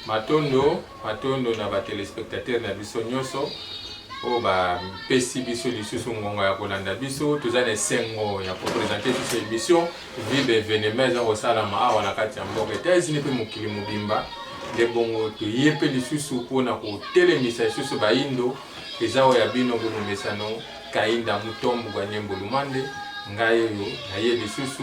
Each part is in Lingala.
matondo matondo na batelespectateur na biso nyonso oyo bapesi biso lisusu ngonga ya kolanda biso toza na esengo ya kopresente biso emission Vive evenema eza kosalama awa na kati ya mboka Etats-Unis mpe mokili mobimba nde bongo toye mpe lisusu mpo na kotelemisa lisusu baindo eza oyo ya bino groupe mesano kainda mutombo gwa nyembo lumande ngai oyo naye lisusu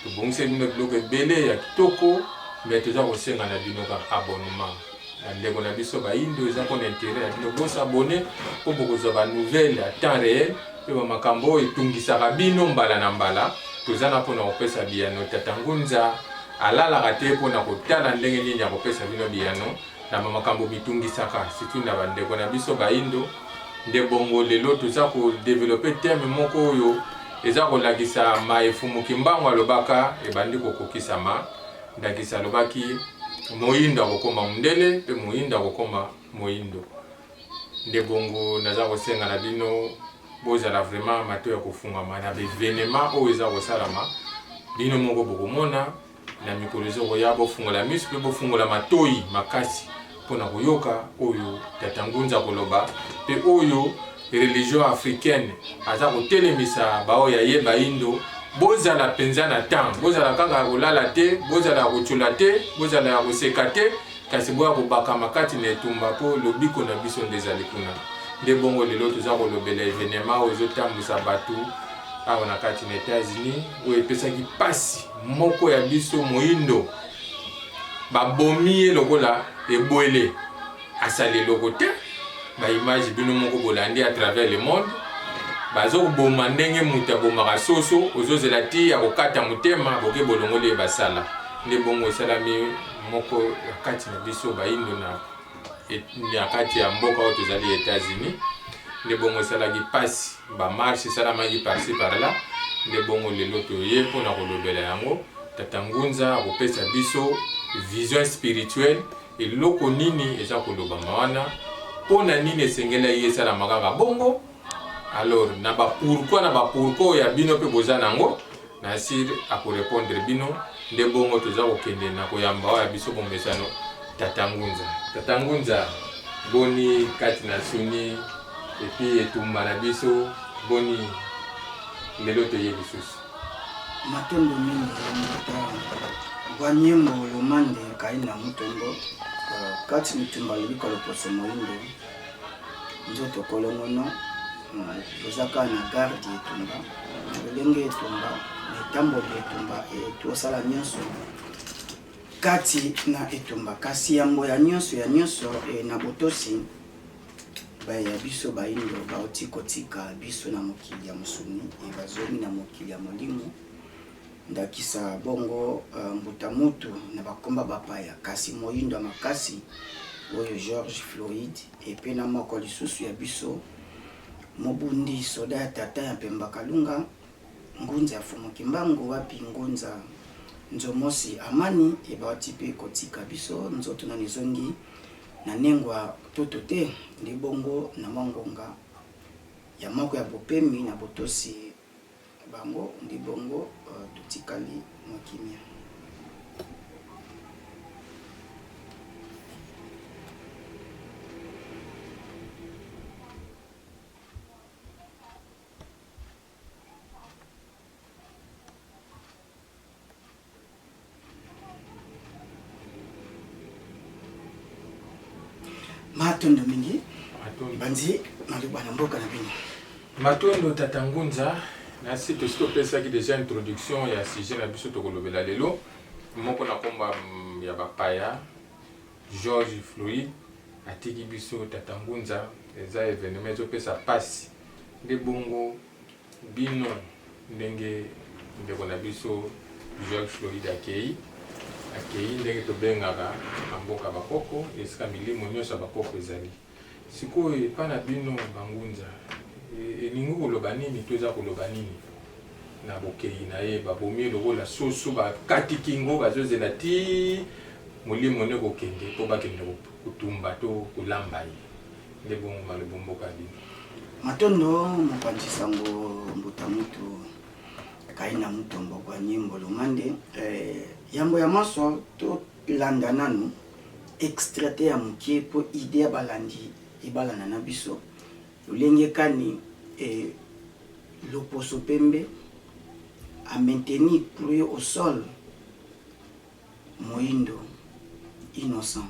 tobongisi bino biloko ebele ya kitoko me toza kosenga na bino kaka abonnement ba ndeko na biso bayindo eza mpo na intere ya bino bos abone mpo bokozwa ba nouvelle ya temps réel mpe bamakambo oyo etungisaka bino mbala na mbala toza na mpo na kopesa biyano tata ngunza alalaka te mpo na kotala ndenge nini akopesa bino biyano na bamakambo mitungisaka surtout na bandeko na biso bayindo nde bongo lelo toza kodevelope teme moko oyo eza kolakisa maefumuki mbango alobaka ebandi kokokisama Ndakisa, alobaki, Moindo akokoma mondele, mpe moindo akokoma moindo. Nde bongo, naza kosenga na bino bozala vraiment mato ya kofungama na bevenema oyo eza kosalama. Bino moko bokomona na mikolo ezokoya, bofungola miso mpe bofungola matoi makasi mpo na koyoka oyo Tata Ngunza akoloba mpe oyo religion africaine aza kotelemisa baoyo ya ye bayindo bozala mpenza na temps bozala kaka ya kolala te bozala ya kotyola te bozala ya koseka te kasi boya kobakama kati na etumba mpo lobiko na biso nde ezali kuna nde bongo lelo toza kolobela evenema oyo ezotambwisa bato awa na kati na etats-unis oyo epesaki mpasi moko ya biso moindo Babomi ye lokola ebwele, asali eloko te. Ba image bino moko bolandi à travers le monde, bazoboma ndenge moto abomaka soso, ozozela ti ya kokata motema, boke bolongoli ye basala. Nde bongo esalami moko ya kati na biso bayindo na na kati ya mboka oyo tozali Etats-Unis nde bongo esalaki mpasi bamarche esalamaki parci parla nde bongo lelo toye mpo na kolobela yango tata ngunza akopesa biso vision spirituelle eloko nini eza kolobama wana mpo na nini esengelaki esalama kaka bongo alors na bapourkoi na bapourkoi ya bino mpe boza na yango Na sur ako repondre bino nde bongo toza kokende na koyamba awa ya biso bomesano tata ngunza. Tata ngunza boni kati na soni epuis etumba na biso boni lelo toye lisusu. Matondo mingi Tata Gwa Nyembo Lomande Kaina Mutombo Kati Mitumba Lobiko Loposo Moyindo Nzoto Kolongono. toza kaka na garde ya etumba lolenge ya etumba na etamboli ya etumba tosala nyonso kati na etumba kasi yambo ya nyonso ya nyonso e, na botosi baya biso bayindo bauti kotika biso na mokili ya mosuni e, bazomi na mokili ya molimo ndakisa bongo e, mbuta mutu na bakomba bapaya kasi moyindo ya makasi oyo george floyd Epe na moko lisusu ya biso, mobundi soda ya tata ya Mpemba Kalunga, Ngunza ya Fumu Kimbangu, wapi Ngunza Nzomosi Amani, ebawti pe kotika biso, nzoto nanu ezongi na nengwa ntoto te. Nde bongo, na mwa ngonga ya moko ya bopemi, na botosi. Bango nde bongo totikali mwa kimia. matondo mingi banzi maloba na mboka na bino matondo tata ngunza nasi tosi topesaki deja introduction ya sujet na biso tokolobela lelo moko na komba mm, ya bapaya george floyd atiki biso tata ngunza eza evenema ezopesa mpasi nde bongo bino ndenge ndeko na biso George Floyd akei akei ndenge tobengaka na mboka bakoko esika milimo nyonso ya bakoko ezali sikoyo epa na bino bangunza e, elingi koloba nini to eza koloba nini na bokei na ye babomi lokola soso bakati kingo bazozela ti molimo ne kokende mpo bakende kotumba to kolamba ye Nde bongo malobo mboka bino. Matondo mopanzi sango mbuta mutu kaina mutu mbokwa nyimbo lomande eh, yambo ya manso tolanda nanu extraite ya mokie mpo ide ya balandi ebalana na biso lolenge kani eh, loposo pembe a maintenir pluie au sol moindo innocent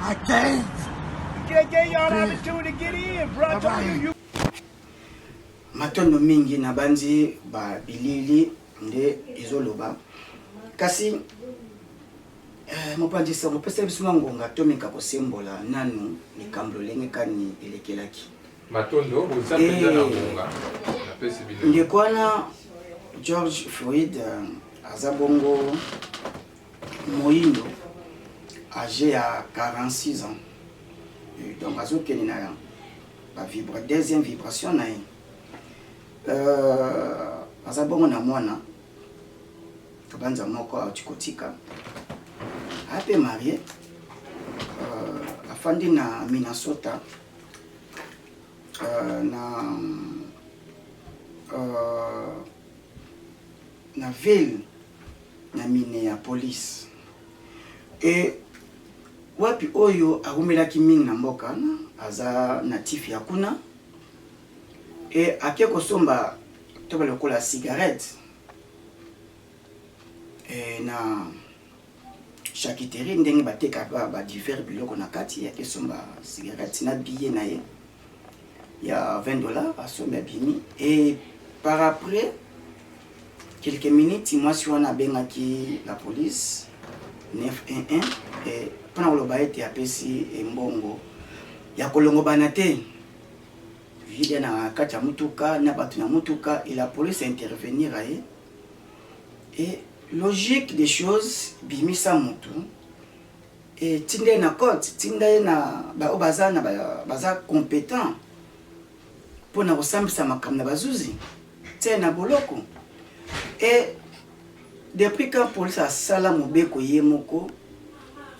I can't. matondo mingi nabanzi ba bilili nde ezoloba kasi eh, mopanzi sango pesa biso mwa ngonga tomeka kosembola nanu likambo lolenge kani elekelaki matondo boza mpenza na eh, ngonga napesi bino ndeko wana george floyd eh, aza bongo moyindo age ya 46 ans euh, donc azokende na bavibre deuxième vibration na ye euh, aza bongo na mwana tobanza moko auti kotika ape marie euh, afandi na minnesota euh, na euh, na ville na Minneapolis. E, wapi oyo awumelaki mingi na mboka wana, aza natif ya kuna. E, ake kosomba to balokola cigarette e, na charcuterie ndenge batekaka ba divers biloko na kati, ake somba cigarette na billet na ye. ya 20 dollars asombi abimi et par après quelques minutes mwasi wana abengaki la police 911 et mpona koloba ete apesi embongo ya kolongobana te vide na kati ya motuka na bato na motuka et la police intervenir aye et logique des choses bimisa motu Et tinda ye na cote, tinda ye na ba oyo baza na baza competent pona ko sambisa makambo na ba zuzi. Tia ye na boloko. Et depuis quand police asala mobeko ye moko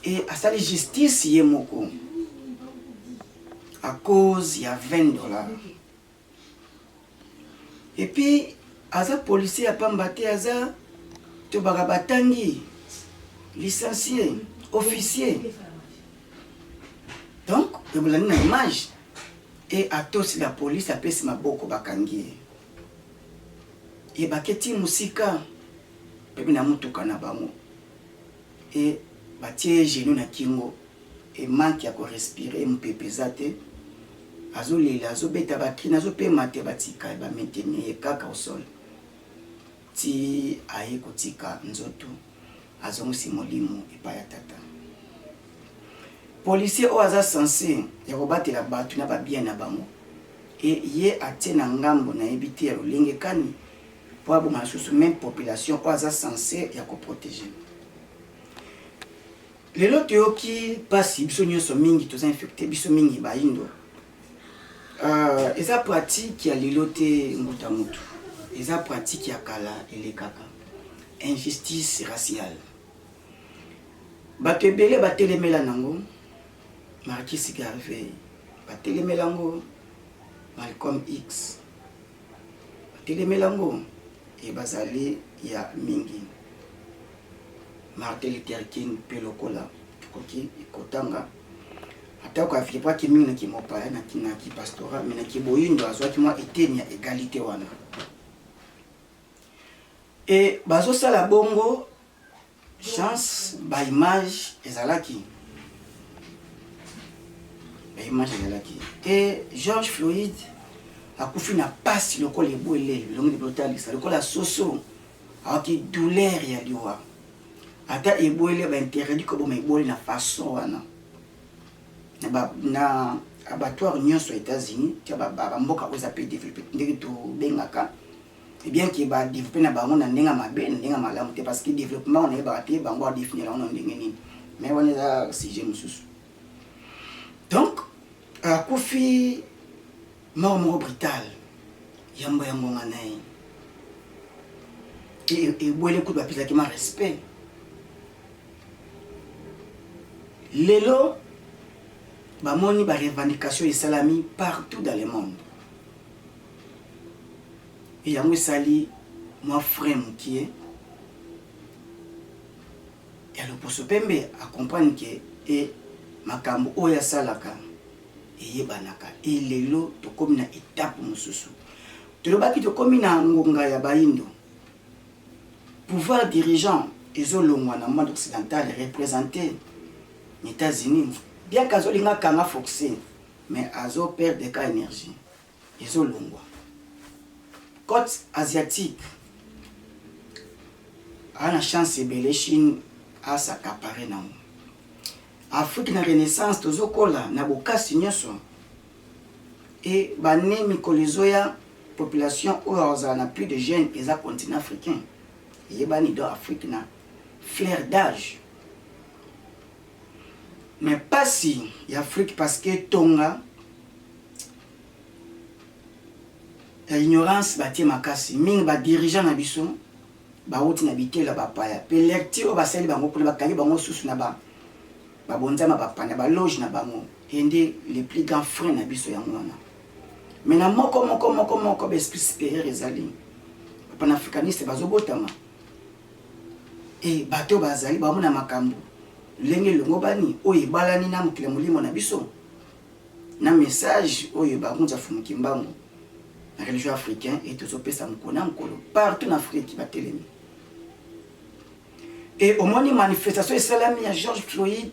et asali justice ye moko à cause ya 20 dollars? Et puis aza policier ya pamba te aza tobaka batangi licencié officier donc ebolandi na image e atosi la polisi apesi maboko bakangi ye ebaketi mosika mpe na motuka na bango et batie ye genoux na kingo et manque ya ko respirer mupepe eza te azo lela azo beta ba cris nazo pema te batika ye ba maintenir ye kaka au sol tii aye kotika nzoto azongisi molimo epai ya tata policier oyo aza sense ya kobatela bato na babien na bango e ye atie na ngambo nayebi te ya lolenge kani po aboma lisusu meme population oyo aza sense ya ko proteger lelo toyoki mpasi biso nyonso mingi toza infecte biso mingi bayindo uh, eza pratique ya lelo te mbuta mutu eza pratique ya kala elekaka injustice raciale bato ebele batelemela nango markis garvey batelemela yango malcolm x Batelemeli yango e bazali ya mingi. Martin Luther King mpe lokola tokoki kotanga atako avibraki mingi na kimopaya na kipastora me na kiboyindo azwaki mwa eteni ya egalite wana e bazosala bongo Chance ba image ezalaki ba image ezalaki te George Floyd akufi na pasi lokola ebwele bilongi lipe otalisa lokola soso awaki douleur ya liwa ata ebwele bainterdit koboma ebwele na façon wana na abattoir nyonso ya états-unis tya bamboka oyo eza mpe développe ndenge tobengaka et bien que ba developper na bango na ndenge ya mabe na ndenge ya malamu te parce que developpement wana oyebaka te bango ba definir yango na ndenge nini mais wana eza sujet mosusu donc akufi euh, mort moko brutal yambo ya ngonga na ye ebwele kutu bapesaki ma respect lelo bamoni barevendication esalami partout dans le monde et yango esali mwa frein mukie ya loposo pembe a comprendre que et makambo oyo asalaka eyebanaka et lelo tokomi na etape mosusu tolobaki tokomi na ngonga ya bayindo pouvoir dirigeant ezolongwa na monde occidental représente na états-unis biaka azolinga kanga foxe mais azo perdre ka énergie Ezo longwa. Cote asiatique. Ana chance ebele Chine a s'accaparer nango. Afrique na renaissance tozo kola na bokasi nyoso. Et bane mikolo ezoya population oyo azala na plus de jeunes eza continent africain. Yebani do Afrique na flair d'âge. Mais pasi ya Afrique parce que tonga ya ignorance batie makasi mingi ba dirigeants na biso bawuti na bitela bapaya pe lecture oyo basali bango kuna bakangi bango susu na ba babonzama bapana baloge na bango ye nde le plus grand frein na biso yango wana me na moko moko moko moko baesprit supérieur ezali bapanafricaniste bazobotama E bato oyo bazali baumu na makambo lolenge elongobani oyo ebalani na mokili ya molimo na biso, na message oyo Bagunza Fumu Kimbangu na religion africain et tozo pesa mokolo na mokolo partout na Afrique batelemi. Et omoni manifestation esalami ya George Floyd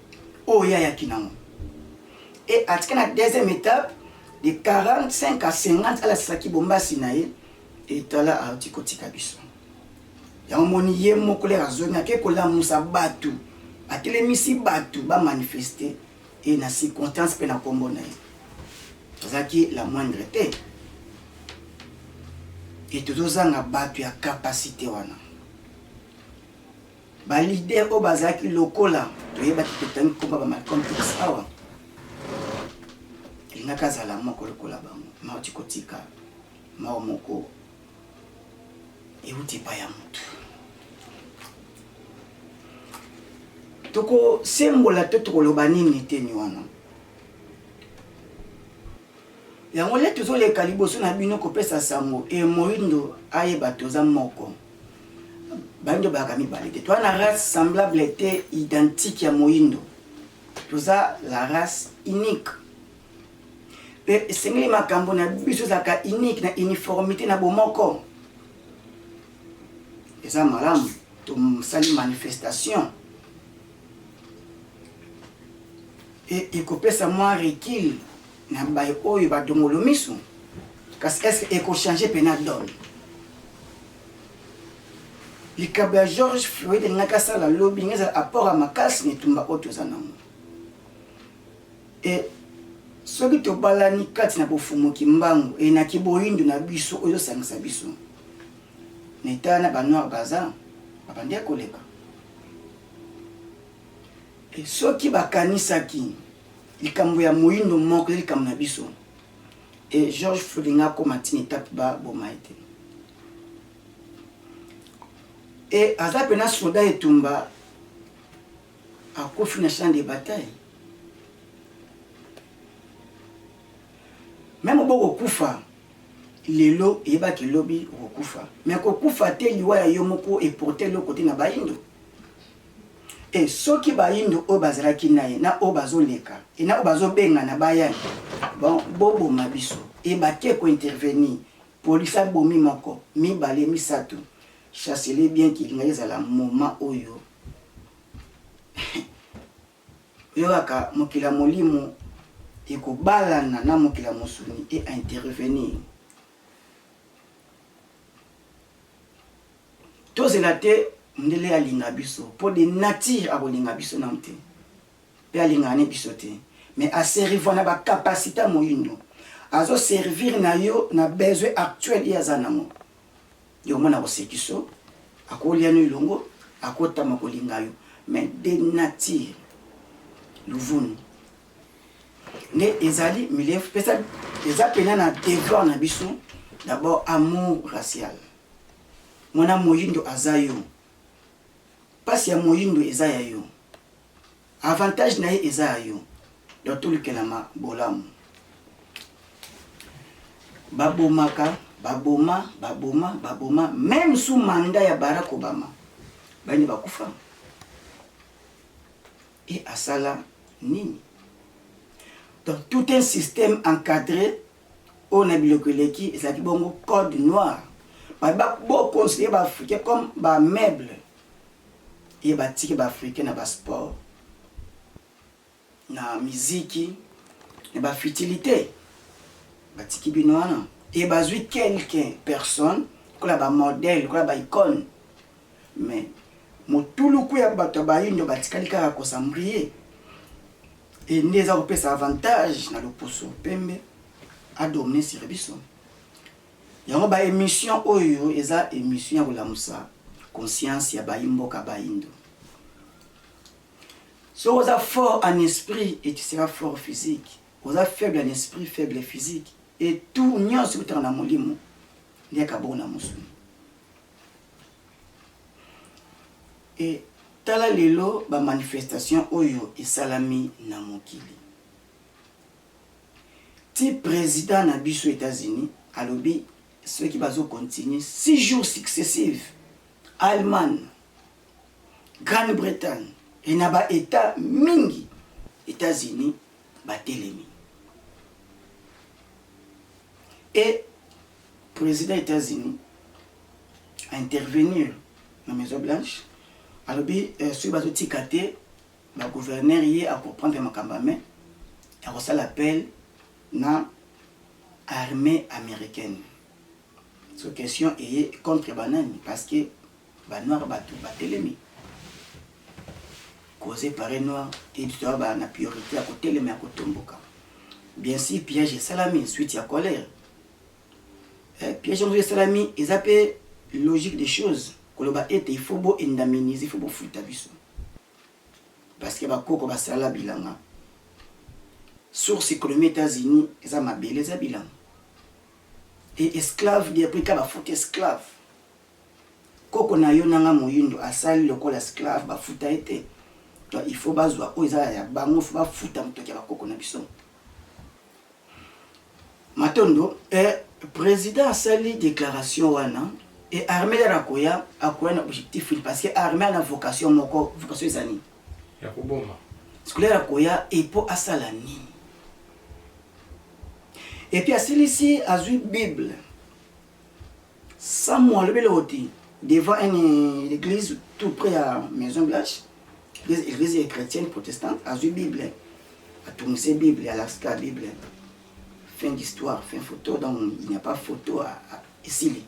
oyo ye ayaki nango e atika na deuxième étape de 45 à 50 alakisa kibombasi na ye etala auti kotika biso yango moni ye moko lere azongi ake kolamusa bato atelemisi bato bamanifeste e na circonstance mpe na nkombo na ye azalaki la moindre te e tozozanga bato ya kapasite wana Ba leader oyo bazalaki lokola toyebaki totangi komba ba Malcolm X awa elingaki azala moko lokola bango mauti kotika mao moko euti epai ya motu tokosembola to tokoloba nini eteni wana Yango nde tozoleka liboso na bino kopesa sango e moindo ayeba toza moko baindo bayaka mibale te toza na race semblable te identique ya moindo toza la race unique mpe esengeli makambo na biso ezalaka unique na uniformité na bomoko eza malamu tosali manifestation e, ekopesa mwa recul na baye oyo badongolo miso kasi est-ce que ekochange mpena done likambo ya george floyd elingaki asala lobi ndenge ezala apport ya makasi na etumba oyo toza nango e soki tobalani kati na bofumuki mbangu enaki boyindo na biso oyo ezosangisa biso na etala na banoir baza babandi ya koleka soki bakanisaki likambo ya moyindo moko ya likambo na biso e george floyd nga akoma ntina etape baboma ye te e aza mpena soda etumba akufi na champ de bataille meme obokokufa Lelo yeba ke lobi okokufa mais kokufa te liwa ya yo moko e porter eloko te na bayindo et soki bayindo oyo bazalaki naye na oyo bazo leka et na oyo bazo bengana baya bon bo boma biso et bake ko intervenir police abomi moko mibale misatu chacelet bien ki elingaki ezala moment oyo Oyokaka mokili ya molimo ekobalana na mokili ya mosuni e intervenir. Tozela te mundele alinga biso po de nature akolinga biso nanu te pe alingaka ne biso te mais a servir na ba capacite ya moyindo azo servir na yo na besoin actuel ye aza nango. Yo mwana kosekiso akolia no elongo akotama kolinga yo mais de nature luvunu nde ezali milieu pesa eza pena na devoir na biso d'abord amour racial mwana moyindo aza yo mpasi ya moyindo eza ya yo Avantage na ye eza ya yo donc tolukelama bolamu. Babomaka, baboma, baboma, baboma meme sous mandat ya Barack Obama bayende bakufa et asala nini? Donc tout un système encadré oyo na biloko eleki ezalaki bongo code noir bato bakoconsidere baafricain comme bameuble Ye ba tiki ba africain na ba sport na miziki na ba futilite ba tiki bino wana et ba zui quelques personnes lokola ba modèle lokola ba icone mais motuluku ya bato ya bayindo ba tikali kaka ko s'embriller et nde eza kopesa avantage na loposo pembe a dominer sur biso Yango ba emission oyo eza emission ya kolamusa conscience ya bayi mboka bayindo. Soki oza fort en esprit et tu seras fort physique. Oza faible en esprit, faible physique. Et tout nyonso ekutaka na molimo nde kabongo na mosuni. Et tala lelo ba manifestation oyo esalami na mokili. ti president na biso etats unis alobi soki bazo continue six jours successive allemagne grande bretagne et na ba etat mingi etats unis batelemi et president etats unis a intervenir na maison blanche alobi euh, soki bazotika te ba gouverneur ye a comprendre makambo ya mais ya kosala appel na armee americaine so question eye contre ba nani parce que ba noir batu batelemi cause pare noir editoa ba na priorité ya kotelema ya kotomboka bien si piège esalami suite ya colère eh, piège yango esalami eza mpe logique des choses koloba ete il faut bo indemnise il faut bofuta biso Parce que ba koko ba sala bilanga. Source economie Etats-Unis eza mabele eza bilanga. Et esclave depuis ka ba fout esclave. Koko na yo nanga moyindo asali lokola esclave ba futa ete. Donc il faut bazwa oyo eza ya bango faut ba futa motoki ya ba koko na biso. Matondo eh, president asali declaration wana et armée lera akoya akoya na objectif ni parce que armée ana vocation moko vocation eza nini ya koboma scolaire akoya epo asala nini epuis asilisi azwi bible Samu alobi eloko te devant un eglise tout près ya maison blanche eglise ya chrétienne protestante azwi bible atungise bible alakisaka bible fin d'histoire fin photo donc il n'y a pas photo esili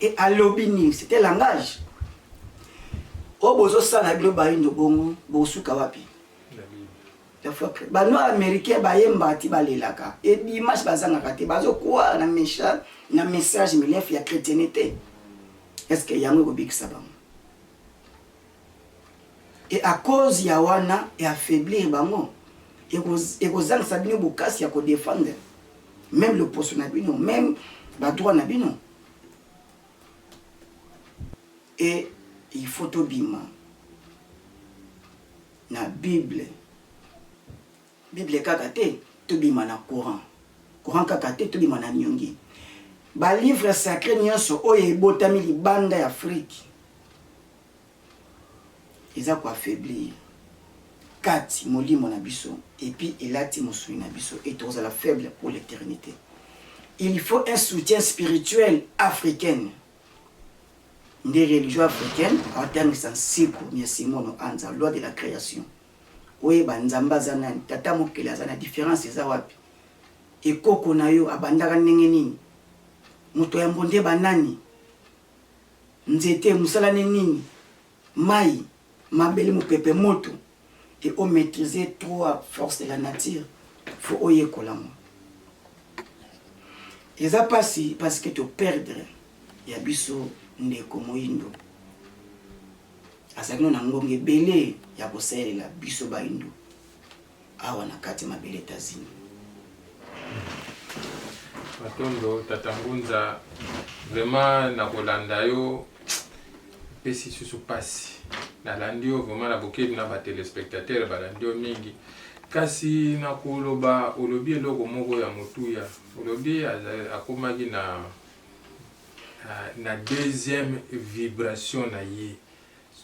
e alobi nini c'était langage oyo bozosala bino bayindo bongo bokosuka wapi Ba noir americain ba yembaka ti ba lelaka et dimanche ba zangaka te bazo croire na message na message milefu ya chretiennete est ce que yango eko bikisa bango et à cause ya wana e affaiblir bango eko zangisa bino bokasi ya ko defendre même le poste na bino même ba droit na bino et il faut tobima Na bible bible kaka te tobima na courant courant kaka te tobima na niongi ba livre sacre nyonso oyo ebotami libanda ya afrique eza koaffaiblir kati molimo na biso epuis elati mosuni na biso et tokozala faible pour l'éternité il faut un soutien spirituel africaine nde religion africaine atangisa nsiku mia simono anza loi de la création oyeba nzambe aza nani tata mokeli aza na différence eza wapi ekoko na yo abandaka ndenge nini moto ya mbonde banani nzete mosala ne nini Mayi, mabele, mopepe, moto et o maitriser trois forces de la nature faut oyekola yango. Eza pasi parce que to perdre ya biso ndeko moyindo azalaki no na ngonga ebele ya kosalela biso bayindo. Awa na kati mabele etazini. Matondo tata Ngunza, vraiment na kolanda yo pesi susu pasi. Nalandi yo vraiment na bokebi na ba telespectateurs balandi yo mingi. Kasi na koloba olobi eloko moko ya motuya. Olobi akomaki na na deuxième vibration na ye.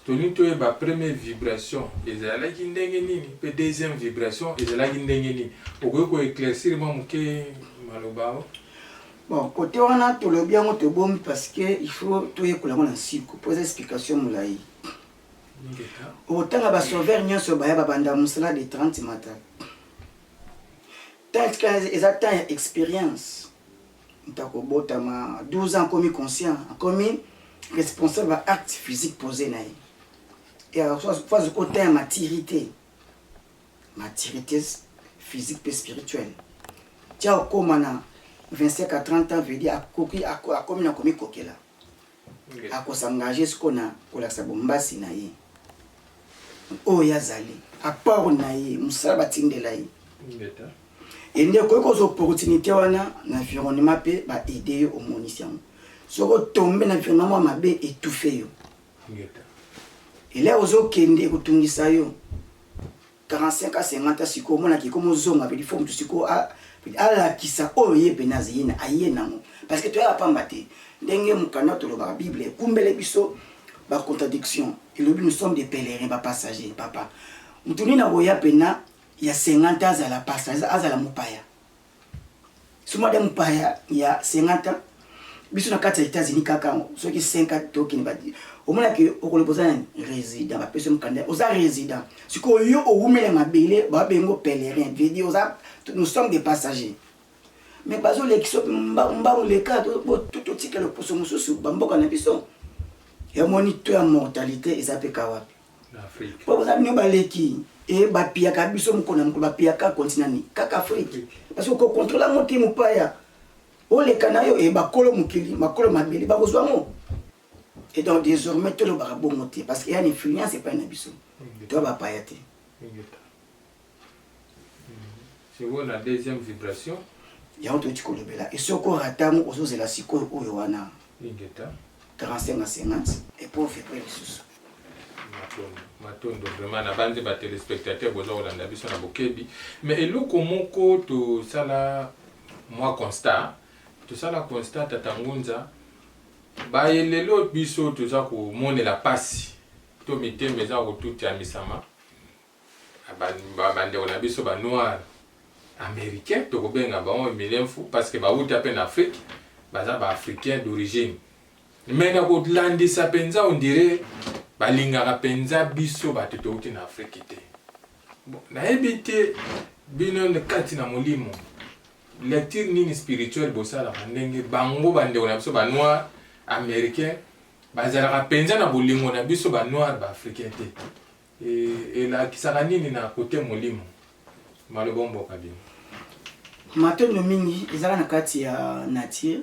Tolingi toyeba premier vibration ezalaki ndenge nini pe deuxième vibration ezalaki ndenge nini? Okoki ko eclaircir mwa moke maloba oyo? Bon, cote wana tolobi yango tobombi parce que il faut toyekola yango na nsiko po eza explication molayi. Okotanga ba sauveurs nionso baya babanda mosala de 30 mata. Temps etikala eza temps ya experience. Moto akobotama 12 ans akomi conscient, akomi responsable ba acte physique posé na ye. Et alors faut azokoteya maturité. Maturité physique pe spirituelle. Tia okoma na 25 à 30 ans veut dire akoki akomi na komikokela. ako s'engager siko na kolakisa bombasi na ye oyo ye azali apport na ye mosala batindela ye ye nde okoki kozwa opportunité wana na environnement mpe baide yo omonisi yango soki otombe na environnement ya mabe etoufe yo elai ozokende ekotungisa yo 45 ans 50 ans sikoyo omona ke komo zonga pe il faut mutu sikoyo a alakisa oyo ye pene azaye na aye nango parce que toyaka pamba te ndenge mokanda tolobaka bible ekumbele biso ba contradiction elobi nous sommes des pèlerins ba passagers papa mutu nini akoya pena ya 50 ans azala passager azala mopaya so mada mopaya ya 50 ans biso na kati ya états-unis kaka yango soki 50 tokende badi omonaki okoloba oza nani résident bapesi mokanda oza résident sikoyo yo owumela mabele babengo pèlerin vedi oza nous sommes des passagers mais bazolekisa mbangu leka totika loposo mosusu bamboka na biso yamoni to ya mortalité eza mpe kawapi Afrique. Po boza bino baleki e bapiyaka biso mokolo na mokolo bapiyaka continent nini kaka Afrique parce que kokontrola ngo te mopaya oleka na yo e bakolo mokili makolo mabele bakozwa ngo et donc désormais tolobaka bongo te parce que ya na influence epai na biso toya bapaya te Sikoyo na deuxième vibration. Yango toyuti kolobela e soki orata yango ozozela sikoyo oyo wana. Ingeta. 45 à 50 et pour vibre lisusu. matondo matondo vraiment na banze ba téléspectateurs boza kolanda biso na bokebi mais eloko moko tosala mwa constat tosala constat tata ngunza baye lelo biso toza komonela mpasi to mitema eza kotutiamisama Bandeko na biso ba noir americain tokobenga bango milemfu parce que bawuta mpe na Afrique baza ba africain d'origine mais na kolandisa mpenza ondire balingaka mpenza biso bato towuti na Afrique te nayebi te bino kati na molimo lecture nini spirituel bosalaka ndenge bango bandeko na biso banoir américain bazalaka mpenza na bolingo na biso banoir baafricain te Elakisaka nini na cote molimo? Maloba omboka bino. Matondo mingi ezaka na kati ya nature.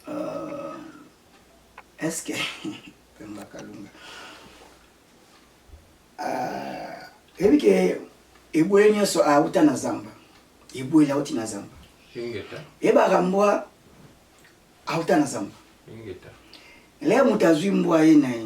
Uh, est-ce que Pemba Kalunga uh, eyebi ke eboye nyonso auta na zamba, eboye auti na zamba, eyebaka mbwa auta na zamba. Lelo moto azwi mbwa ye na ye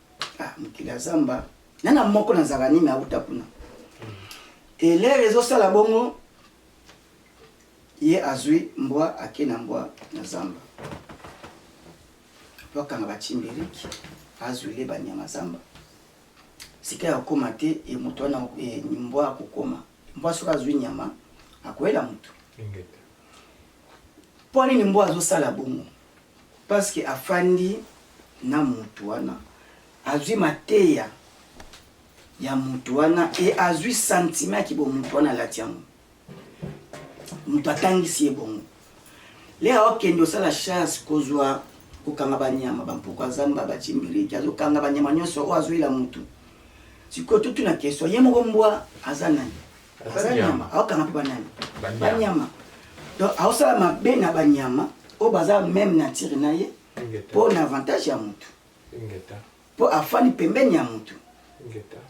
Ah, mokili ya zamba na na moko na zaka nini auta kuna elere ezosala bongo ye azwi mbwa ake na mbwa na zamba po akanga bachimberiki azwile banyama zamba sika ya kokoma te e moto wana e, mbwa akokoma mbwa soki azwi nyama akoyela moto Pona nini mbwa azo sala bongo? Parce que afandi na mutu wana, azui mateya ya mutu wana et azui sentiment ya ki bo mutu wana alati yango. Mutu atangisi ye bongo. Lea okende osala chasse kozua kokanga ba nyama, ba mpuku ya zamba, ba chimbiriki, azo kanga ba nyama nionso oyo azuila mutu. Sikoyo totuna question, ye moko mbwa aza nani? aza nyama aokanga mpe banani banyama donc aosala mabe na banyama oyo baza meme nature na ye mpo na avantage ya motu mpo afani pembeni ya motu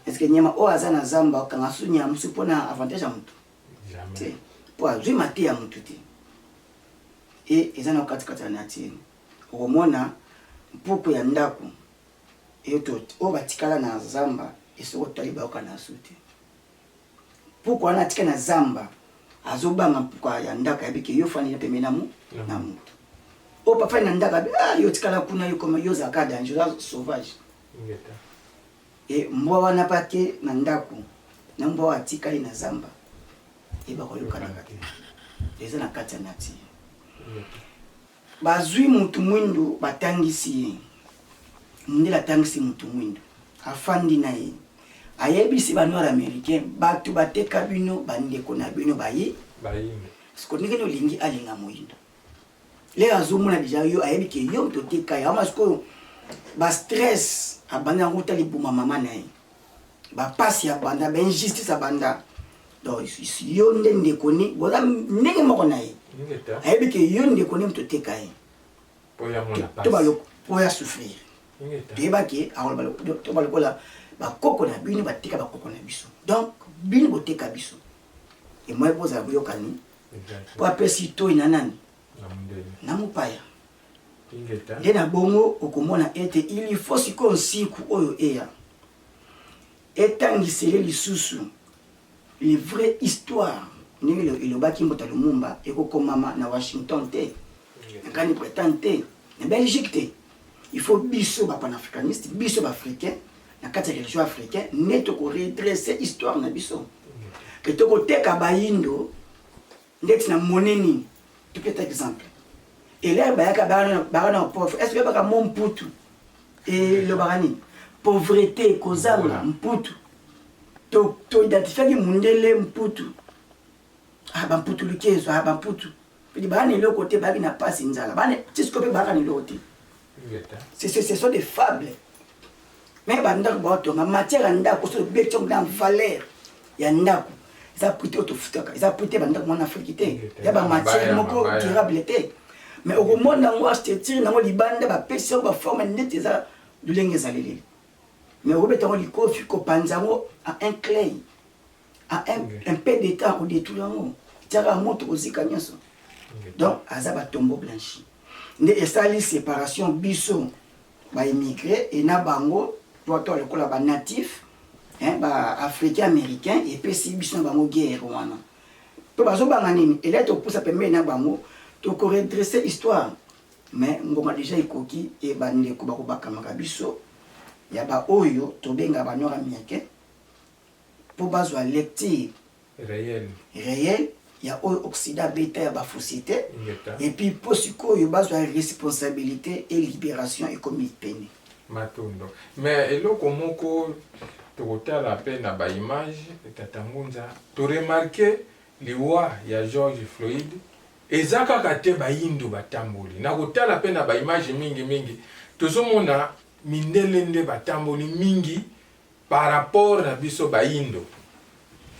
eske nyama oyo aza na zamba okanga su nyama mosusu mpo na avantage ya motu te mpo azwi mate ya motu te e eza na okatikati ya nature okomona mpuku ya ndako oyo batikala na zamba esoko tali bayoka na su te Pourquoi na tika na zamba azo banga pourquoi ya ndaka ya bike yo fani na pembe na mu na mutu o oh, papa na ndaka ah yo tika la kuna yo comme yo zaka danger la sauvage et mbwa wana pa te na ndaku na mbwa atika ye na zamba et ba ko yokana ka te eza na kati ya nature Bazui mutu muindu batangisi ye. Mundele atangisi mutu muindu. Afandi na ye. Ayebisi ba noir americain batu bateka bino ba ndeko na bino bayi. Bayindo. Parce que ndenge olingi alinga moyindo. Lelo azomona deja yo ayebi ke yo mto oteka ye. Ama sikoyo ba stress abandi yango uta libuma mama na ye. ba pasi ya banda ba injustice ya banda donc yo nde ndeko ne boza ndenge moko na ye ayebi ke yo ndeko ne moto oteka ye to baloko po ya souffrir toyeba ke to balokola bakoko na bino bateka bakoko na biso donc bino boteka biso emoye bozala boyokani po apesi toi na nani na mopaya nde na bongo okomona ete ili fo sikoyo nsiku oyo eya etangisele lisusu le vrai histoire ndenge elobaki mbota lumumba ekokomama na washington te na grande bretagne te na belgique te il faut biso bapanafricaniste biso baafricain na kati ya religion africain nde tokoredresse histoire na biso ke tokoteka bayindo ndeti na moni nini topeta exemple elere bayaka baka na pauvre est ce oyebaka mo mputu elobaka nini pauvrete kozanga mputu toidentifiaki to mundele mputu ah, bamputu lukezo ah, bamputu pedi baka na eloko te baki na mpasi nzala bana tisiko mpe baka na eloko te Ce ce ce sont des fables. Mais ba ndako ba tonga matière ya ndako so beti yango na valeur ya ndako. Eza prix te otofutaka. Eza prix te ba ndako mwana Afrique te. Ya ba matière moko durable te. Mais okomona yango architecture nango libanda ba pesi yango ba forme neti eza lolenge ezaleli. Mais okobeta yango likofi, kopanza yango a un clay, a un, un peu de temps kodetruire yango, tiaka ya moto kozika nyonso. Donc aza ba tombeau blanchi nde esali separation biso ba immigre e na bango to to lokola ba natif hein, ba africain américain epesi biso na bango guerre wana mpe bazobanga nini elai tokopusa pembeni na bango tokoredresse histoire Mais ngoma dejà ekoki et ba ndeko bako bakamaka biso ya ba oyo tobenga ba nord américain po bazwa lecture réel réel ya oyo occident abeta ya ba fausite et puis po sikoyo bazwa responsabilité et libération ekomi pene matondo mais eloko moko tokotala pe na ba image tata ngunza to remarquer liwa ya George Floyd Eza kaka te bayindo batamboli. Na kotala pe na ba images mingi mingi, tozo mona mindele nde batamboli mingi par rapport na biso bayindo.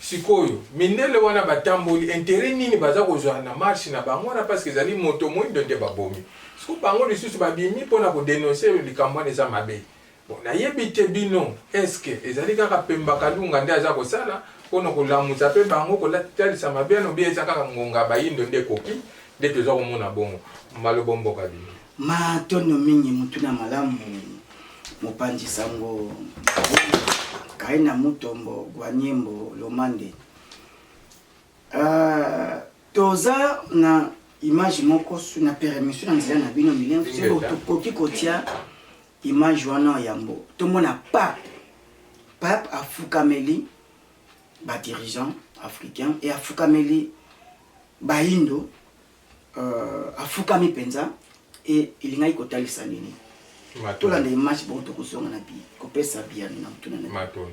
Sikoyo mindele wana batamboli, interet nini baza kozwa na marche na bango wana parce que ezali moto moyindo nde babomi. Sikoyo bango lisusu babimi pona ko denoncer likambo wana eza mabe. Bon nayebi te bino esque ezali kaka pemba kalunga nde aza kosala pono kolamusa pe bango kotalisa mabiano bie eza kaka ngonga bayindo nde ekoki nde toza komona bongo malobo mboka bino. Matondo mingi motuna malamu mopanzi sango kaina mutombo gwaniembo lomande uh, toza na image moko na permission na nzela na bino milien soki tokoki kotia Image wana yambo tomona pape pape afukameli ba dirigeants africains et afukameli bayindo euh, afukami penza et elingaki kotalisa nini tolanda image bongo tokozonga na bi kopesa biyano na motuna na matondo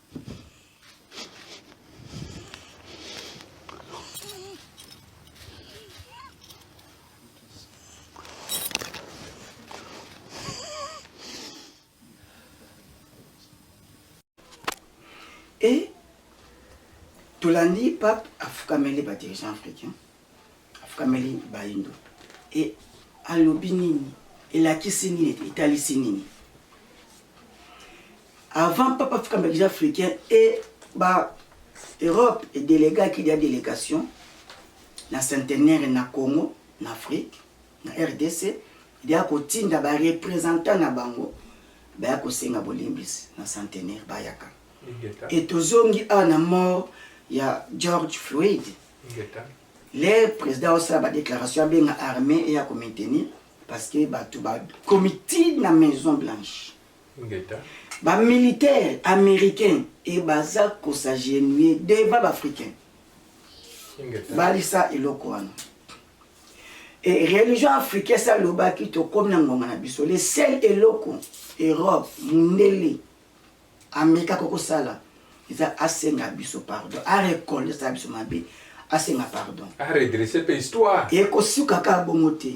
Et tolandi pape afukameli ba dirigeant africain afukameli bayindo e alobi nini elakisi nini etalisi nini Avant papa fika mbakija africain et ba Europe et delegaki dia delegation na centenaire na Congo na Afrique na RDC dia kotinda ba représentants na bango baya kosenga bolimbisi na centenaire bayaka et tozongi awa na mort ya George Floyd le président osala ba déclaration abenga armée eya ko maintenir parce que bato bakomi ti na maison blanche Ingeta. Ba militaires americains et baza ko s'agenouiller devant ba africains. Ingeta. Balisa eloko wana. Et religion africaine ça lobaki to comme na ngonga na biso. Le seul eloko Europe mundele Amerika koko sala eza asenga biso pardon. A recoller ça biso mabe. Asenga pardon. A redresser pe histoire. Et ko suka ka bongo te.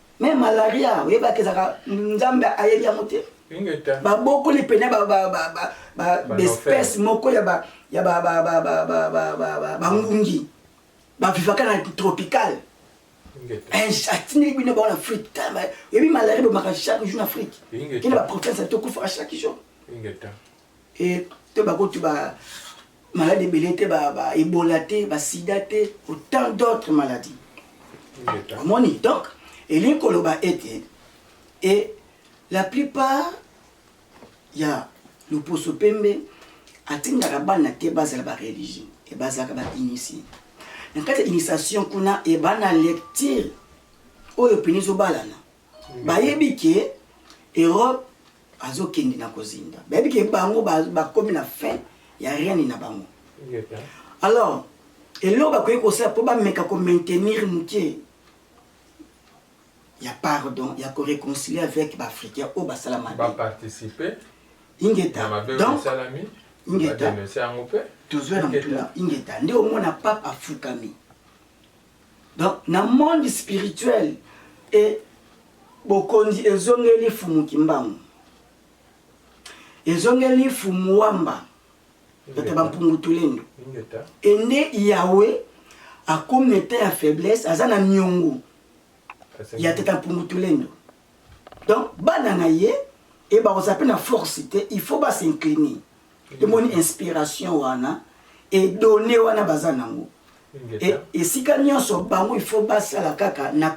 Mais malaria oyebaka ezaka nzambe ayebi yango te babokoli pene baespèce moko ya bangungi bavivaka na tropical atindeli bino bao na afrique oyebi malaria ebomaka chaque jour na afrique kende baprovince tokufaka chaque jour et te ba kutu ba malade ebele te ba ba ebola te ba sida te autant d'autres maladies omoni donc elingi koloba ete et la plupart ya loposo pembe atindaka bana te bazala ba religieux et bazalaka ba initie na kati ya initiation kuna et bana lecture oyo pene ezobalana bayebi ke europe azokende na kozinda bayebi ke bango bakomi na fin ya règne na bango alors eloko bakoki kosala mpo bameka komaintenir moke ya pardon ya koreconcilie avec baafricain oyo basala mabeparticipe ingeta donc ingeta tozwa na motuna ingeta nde omona pape afukami Donc na monde spirituel e bokonzi ezongeli fumu kimbangu ezongeli fumu wamba bata bampungu tulendo e nde yawe akomi na etat ya faiblesse aza na niongo ya tata mpungu tulendo donc bana na ye e bakozala mpe na force te il faut basincliner omoni inspiration wana edone wana baza nango e, esika nyonso bango ifo basala kaka na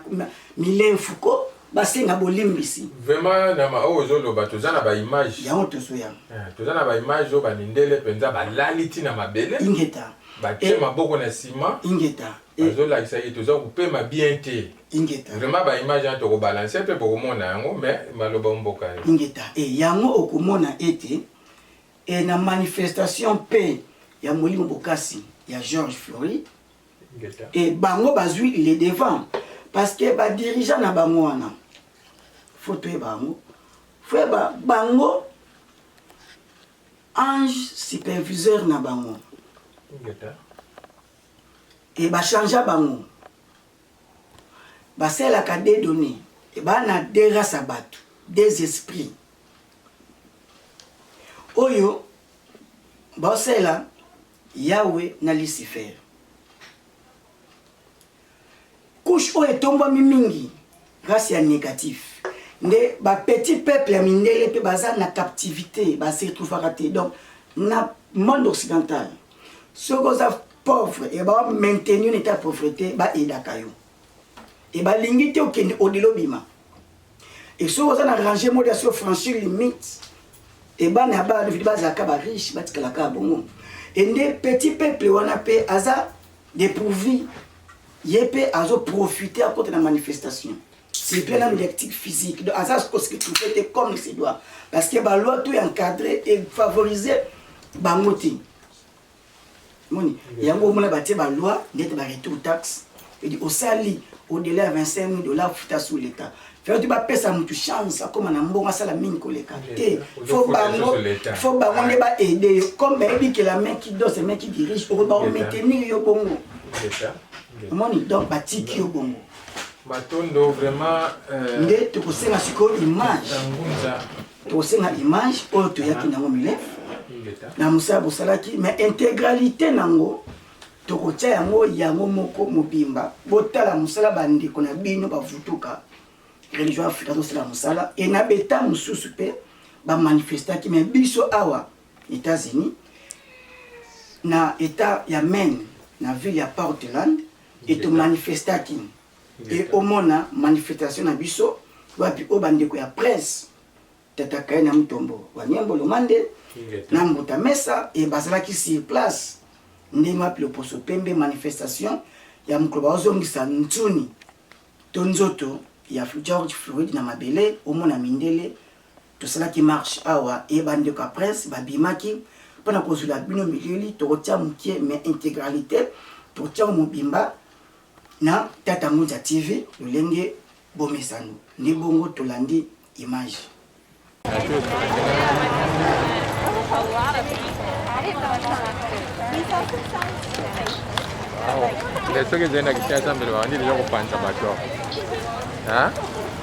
milenfuko basenga bolimbisi vraiment na maoyo oh, ozoloba toza na baimage yango tozoya eh, toza na baimage oyo bamindele mpenza balali ntina mabele ingeta batie eh, maboko na nsima ingeta azolakisa ye toza kopema bien te vraiment baimage yango tokobalanse mpe bokomona yango mais maloba mboka ye ingeta e yango okomona ete e na manifestation mpe ya molimo bokasi ya george florid e bango bazwi le devant parce que badirigeant na bango wana fo toyeba yango fo yeba bango ange superviseur na bango e bachangea bango Basalelaka deux donnees. Ebaa na deux races ya batu, deux esprits. Oyo baosalela Yahwe na Lucifer. Couche oyo etombwami mingi, race ya negatif. Nde ba petits peuples ya mindele mpe baza na captivité, ba se retrouvaka te. Donc na monde occidental soki oza pauvre ya ba maintenir na etat pauvreté ba aidaka yo e balingi te okende odilo bima e soki oza na range mode ya so franchir limite e bana ya bana vidi bazalaka ba riche batikalaka bongo e nde petit peuple wana mpe aza dépourvu ye mpe azoprofite akota na manifestation c'est bien nanu diactique physique donc aza koskitrupe te comme il se doit parce que baloi to encadre efavorise bango te moni yango omona batie ba loi ndete ba retour taxe edi osali au-delà ya 25 mille dollars futa sous l'état fayoti bapesa motu chance akóma na mbongo asala mingi koleka te fo bango fo bango nde baede yo comme bayebi ke la main qui danse la main qui dirige okoki baomaintenir yo bongo omoni donc batiki yo bongo matondo vraiment euh, nde tokosenga sikoyo image tokosenga image oyo toyaki nango milef na mosala bosalaki mais integralité nango tokotya yango yango moko mobimba botala mosala bandeko na bino bavutuka religion afrika azosala mosala e na beta mosusu mpe bamanifestaki me biso awa états-unis na etat ya maine na ville ya portland etomanifestaki et omona manifestation na biso wapi o bandeko ya presse tata kaye na mutombo wa nyembo lomande na mbuta mesa e bazalaki sur place ndenge wapi loposo pembe manifestation ya mokolo baozongisa nsuni to nzoto ya george florid na mabele omona mindele tosalaki marche awa e bandeko ya presse babimaki mpo na kozwela bino milili tokotia moke mais intégralité tokotiango mobimba Na tata ngunza TV lolenge bomesano nde bongo tolandi image. Wow. Soki ezali na Kinshasa mbele babandi deja kopanza bato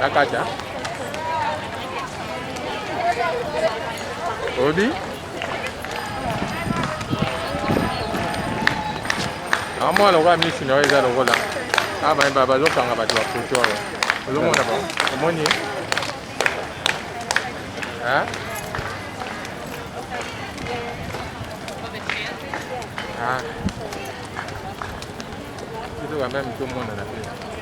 Nakata. Obi. Amwa lokola misi na yo eza lokola. Ah, ba ba bazokanga bato ba foto oyo. Ozomona ba. Omoni? Hein? Ah. Kitu kama mtu mmoja na pia.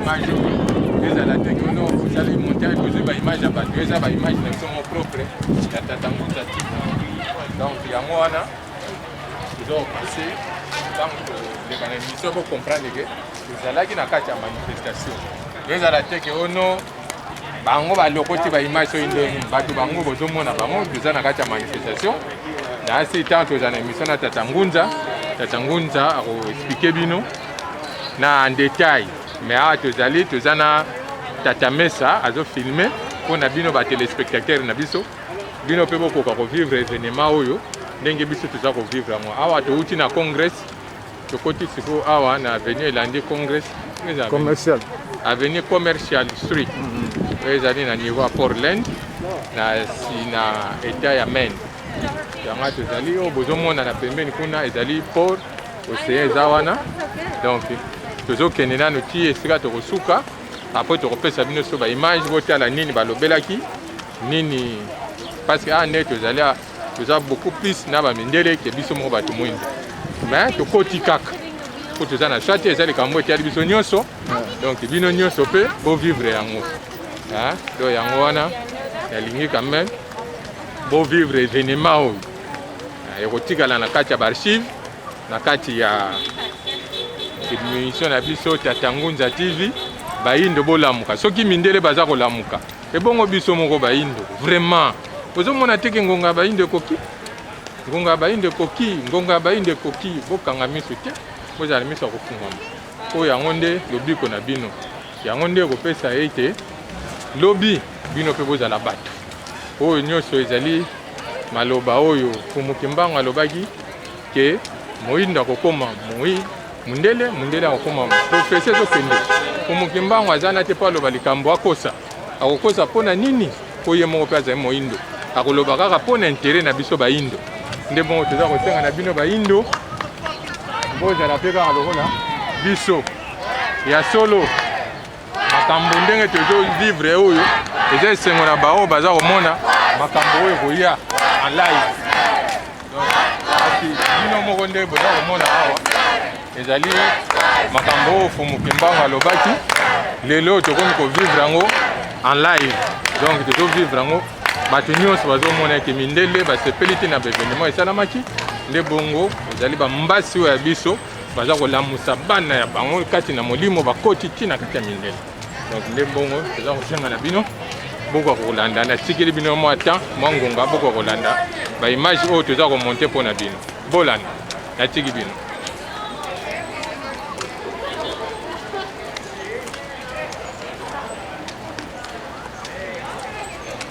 image ezala te kono osali montage ozwi baimage ya bato eza baimage na biso mo propre ya tata mbuta ti donc yango wana donc se ntango toleka na émission bocomprendre ke ezalaki na kati ya manifestation ezala te ke ono bango balokoti baimage soki ndenge nini bato bango bozomona bango toza na kati ya manifestation na asi ntango tozala na émission na tata ngunza tata ngunza akoexplike bino na en detail mais awa tozali toza na tata mesa azo filme mpo na bino ba telespectateur na biso bino mpe bokoka kovivre evenement oyo ndenge biso toza kovivre yango awa touti na congrès tokoti sikoyo awa na avenue elandi congrès commercial avenue commercial street mm -hmm. oyo ezali na niveau ya portland na, na etat ya maine yango tozali oyo oh, bozomonana pembeni kuna ezali port oseya eza wana donc tozokende nano ti esika tokosuka apres tokopesa bino so baimage botala nini balobelaki nini parce que awa ah, nde tozali ah, toza beaucoup plus na bamindele ke biso moko bato mwinda mais tokoti kaka mpo toza na shwa te eza likambo etali biso nyonso donc bino nyonso mpe bovivre yango do yango wana nalingi quand même bovivre evenema oyo eh, ekotikala na kati ya baarchive na kati ya emission na biso tatangunza tv bayindo bolamuka soki mindele baza kolamuka ebongo biso moko bayindo vraiment ozomona teke ngonga ya bayindo ekoki ngonga ya bayindo ekoki ngonga ya bayindo ekoki bokanga miso te bozala miso ya kofungwama oyo yango nde lobiko na bino yango nde ekopesa ete lobi bino mpe bozala bato oyo nyonso ezali Maloba oyo Mfumu Kimbangu alobaki ke moindo akokoma moi mundele mundele akokoma profesi ezokende Mfumu Kimbangu aza na te mpo aloba likambo akosa akokosa mpo na nini mpo ye moko mpe azali moindo akoloba kaka mpo na intere na biso baindo nde bongo toza kosenga na bino baindo bozala mpe kaka lokola biso ya solo makambo ndenge tozo vivre oyo eza esengo na baoyo baza komona makambo oyo ekoya en live bino moko nde boza komona awa ezali makambo oyo fumu kimbangu alobaki lelo tokomi kovivre yango en live donc tozo vivre yango bato nyonso bazomona ete mindele basepeli te na baevenema esalamaki nde bongo ezali bambasi oyo ya biso baza kolamusa bana ya bango kati na molimo bakoti ti na kati ya mindele donc nde mbongo toza kosenga na bino bokoka kolanda natikeli bino mwa temps mwa ngonga bokoka kolanda baimage oyo toza komonte mpo na bino bolanda natiki bino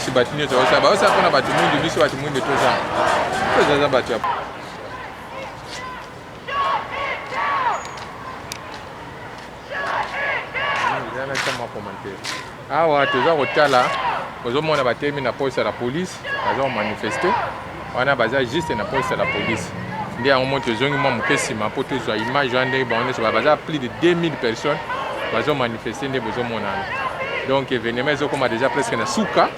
kasi bato nyonso baosa baosa mpona bato mwindu biso bato mwindu toza tozaza bato ya awa toza kotala ozomona batelemi na poste ya la police baza komanifeste wana baza juste na poste ya la police nde yango moi tozongi mwa moke nsima mpo tozwa image wana ndenge bango nyonso baza plus de 2000 personnes bazomanifeste nde bozomonana donc événement ezokoma déjà presque na suka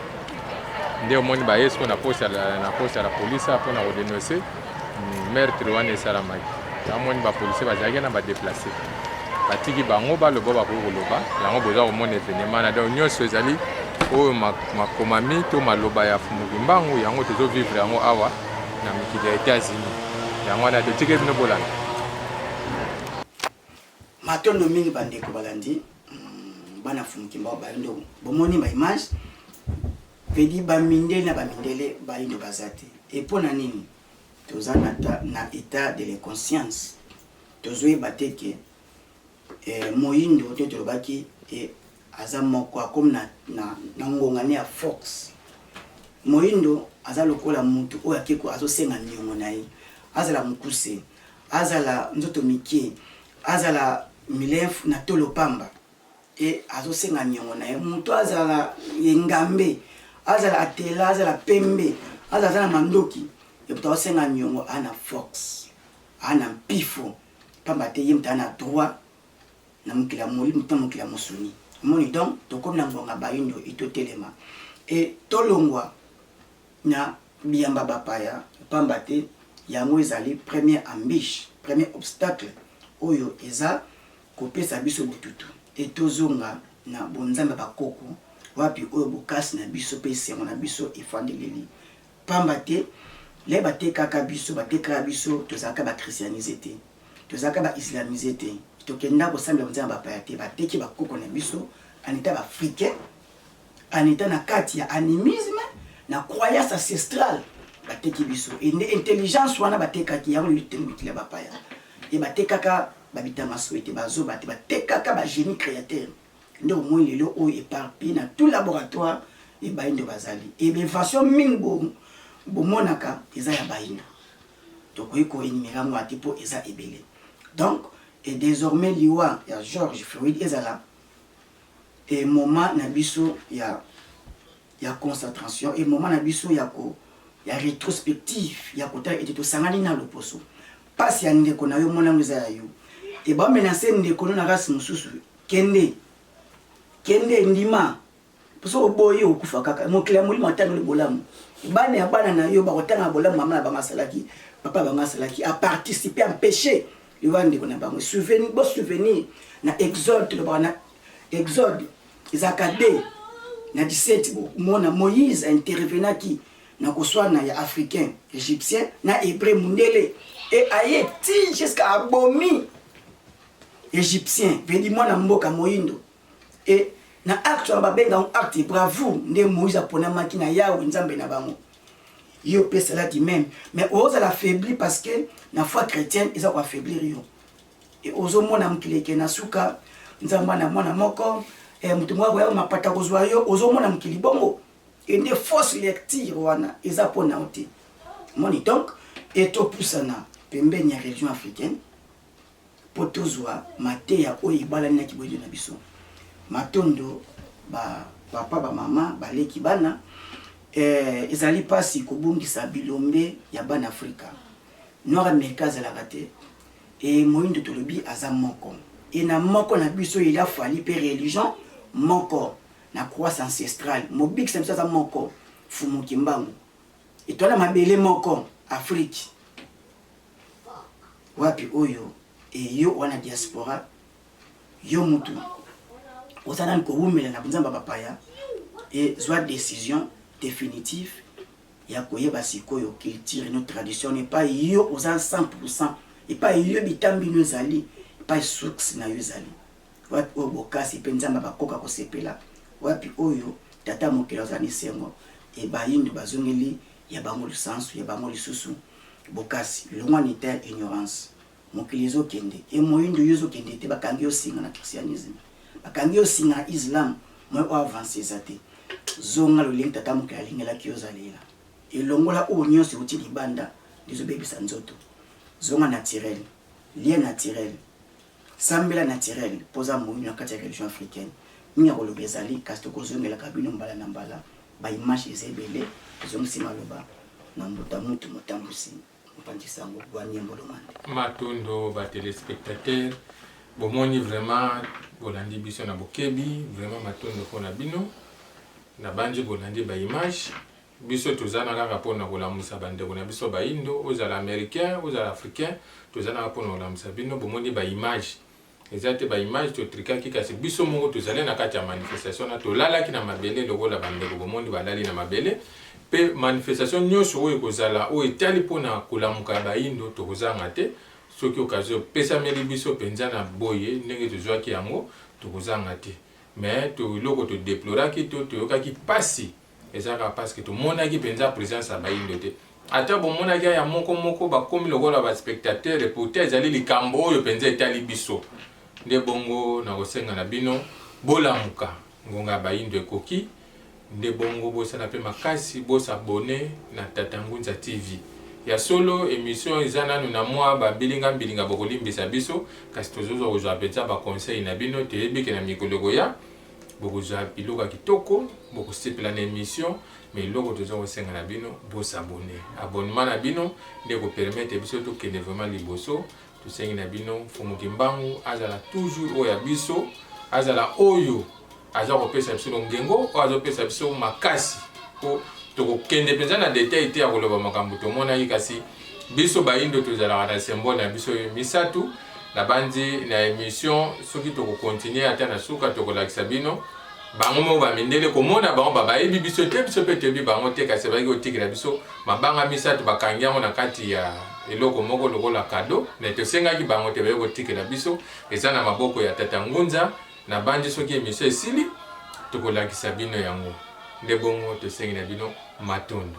nde omoni baye sikoyo na poste na poste ya la police mpo na kodenonse hmm, meurtre wana esalamaki namoni bapolisier bazalaki na badeplace batiki bango baloba bakoki koloba yango boza komona evenema na donc nyonso ezali oyo makomami to maloba ya fumuki mbangu yango tozovivre yango awa na mikili ya etats-unis yango wana totikeli bino bolanda Matondo mingi bandeko balandi hmm, bana fumukimba bayindo bomoni ba image vedi bamindele na bamindele bayindo baza te e mpo na nini toza na, na etat de l'inconscience tozoyeba te ke eh, moyindo te tolobaki eh, aza moko akomi na, na, na ngonga ne ya force moyindo aza lokola mutu oyo akeko azosenga niongo na ye azala mokuse Azala nzoto mikie, azala milefu na tolo pamba e azosenga niongo na ye mutu azala engambe, azala atela, azala pembe, azala aza na mandoki e mutu azosenga niongo a na fox a na mpifo pamba te ye mutu a na droit na mokili ya molimo to na mokili ya mosuni. Omoni donc tokomi na ngonga bayindo il totelema e tolongwa. na biyamba bapaya, mpamba te yango ezali premier ambiche, premier obstacle oyo eza kopesa biso botutu et tozonga na bonzambe ya bakoko wapi oyo bokasi na biso mpe esengo na biso efandeleli. Mpamba te le batekaka biso, batekaka biso, tozalaka ba christianiser te, tozalaka ba islamiser te, tokenda kosambela bonzambe ya bapaya te, bateki bakoko na biso en etant b'africains, En etant na kati ya animisme, na croyance ancestrale, bateki biso. Et nde intelligence wana batekaki yango lelo totendi mikili ya bapaya. Et batekaka ba Bitamasoe te, ba zoba te, batekaka ba genie createur. Nde omoni lelo oyo eparpille na tout laboratoire et baindo bazali. Et ba invention mingi bo bomonaka eza ya baindo. Tokoki ko enumerer yango awa te po eza ebele. Donc, et desormais liwa ya George Floyd ezala et moment na biso ya ya consatration et moment na biso ya ko ya retrospective ya kotala ete tosangani na loposo pasi ya ndeko na yo mona yango eza ya yo et ba menacer ndeko no na race mosusu kende kende ndima poso oboyi okufa kaka mokili ya molimo atangeli bolamu bana ya bana na yo bakotanga bolamu mama na bango asalaki papa bango asalaki a participer empêcher Yo ba ndeko na bango souvenir bo souvenir na exode tolobaka na exode ezalaka de na 17 bomona moïse intervenaki na koswana ya africain égyptien na hébreu mundele e aye ti jusqu'à abomi égyptien vedi mwana mboka moindo Et na acte wana babenga yango acte bravoure nde moïse aponamaki na yawe nzambe na bango ye opesa lati meme mais ozala affaibli parce que na foi chrétienne eza koaffaiblir yo e ozomona mokili eke na suka nzambe na mwana moko e, moto moko akoya mapata kozwa yo ozomona mokili bongo e nde fausse lecture wana eza mpo na yo te moni donc etopusana pembeni ya religion africaine mpo tozwa mateya oyo ebalani na kiboyeli na biso. Matondo ba papa, ba mama, ba leki, bana. Eh, ezali pasi kobungisa bilombe ya bana Afrika. Noir Amerika azalaka te. E moindo tolobi aza moko. E na moko na biso il a fallu pe religion moko na croissance ancestrale. Mobikisi na biso aza moko, Fumu Kimbangu. Etwala mabele moko, Afrique. Wapi oyo et yo wana diaspora yo mutu oza nani kowumela na nzamba bapaya ezwa decision definitive ya koyeba sikoyo culture no tradition epai yo oza 100 epai yo bitambi no ezali epai source na yo ezali wapi oyo bokasi mpe nzambe bakoka kosepela wapi oyo tata mokili azwa na esengo ebayindo bazongeli ya bango lisansu ya bango lisusu Bokasi longwa ne teint ignorance mokili ezo kende e moyindo yo ezo kende te bakangi yo singa na christianisme bakangi yo singa na islam moye o avance eza te zonga lolenge tata mokili alingelaki yo zalela elongola oyo nyonso euti libanda ezo bebisa nzoto zonga naturel lia naturel sambela naturel poza moyindo na kati ya religion africaine mingi ya koloba ezali kasi tokozongelaka bino mbala na mbala Ba images eza ebele zongisi maloba na mbuta mutu motambusi mopanzi sango Gwamie Mbolomande. Matondo ba telespectateurs bomoni vraiment bolandi biso na bokebi vraiment matondo pona bino nabanzi bolandi ba images biso toza na kaka pona kolamusa ba ndeko na biso bayindo ozala americain ozala africain toza na kaka pona kolamusa bino bomoni ba images Eza te ba image to trikaki kasi biso moko tozali na kati ya manifestation na tolalaki na mabele lokola bandeko bomoni balali na mabele pe manifestation nyonso oyo ekozala oyo etali mpo na kolamuka ya bayindo tokozanga te soki okazi opesameli biso mpenza na boye ndenge tozwaki yango tokozanga te mais to eloko todeploraki to toyokaki mpasi Eza kaka parce que tomonaki penza presence ya bayindo te. Ata bomonaki aya moko moko bakomi lokola ba spectateurs et pourtant ezali likambo oyo penza etali biso. Nde bongo nakosenga na bino bolamuka ngonga ya bayindo ekoki nde bongo bosala pe makasi bo s'abonner na Tata Ngunza TV. Ya solo emission eza nanu na mua ba mbilinga mbilinga bokolimbisa biso kasi tozozwa kozwa penza ba conseils na bino toyebi ke na mikolo ekoya bokozwa biloko ya kitoko bokosepela na emission mais eloko toza kosenga na bino bosabone abonnement na bino nde ekopermete biso tokende vraiment liboso tosengi na bino mfumu kimbangu azala toujours oyo ya biso azala oyo aza kopesa biso longengo oyo azopesa biso makasi mpo tokokende mpenza na detail te ya koloba makambo tomonaki kasi Biso bayindo tozalaka na symbole na biso misatu nabanzi na emission soki toko continuer ata na suka tokolakisa bino bango moko ba mindele komona bango ba bayebi biso te biso mpe toyebi bango te kasi bazalaki kotikela biso mabanga misato bakangi yango na kati ya eloko moko lokola kado me tosengaki bango te baye kotikela biso eza na maboko ya tata ngunza na bandi soki emisio esili tokolakisa bino yango nde bongo tosengi na bino matondo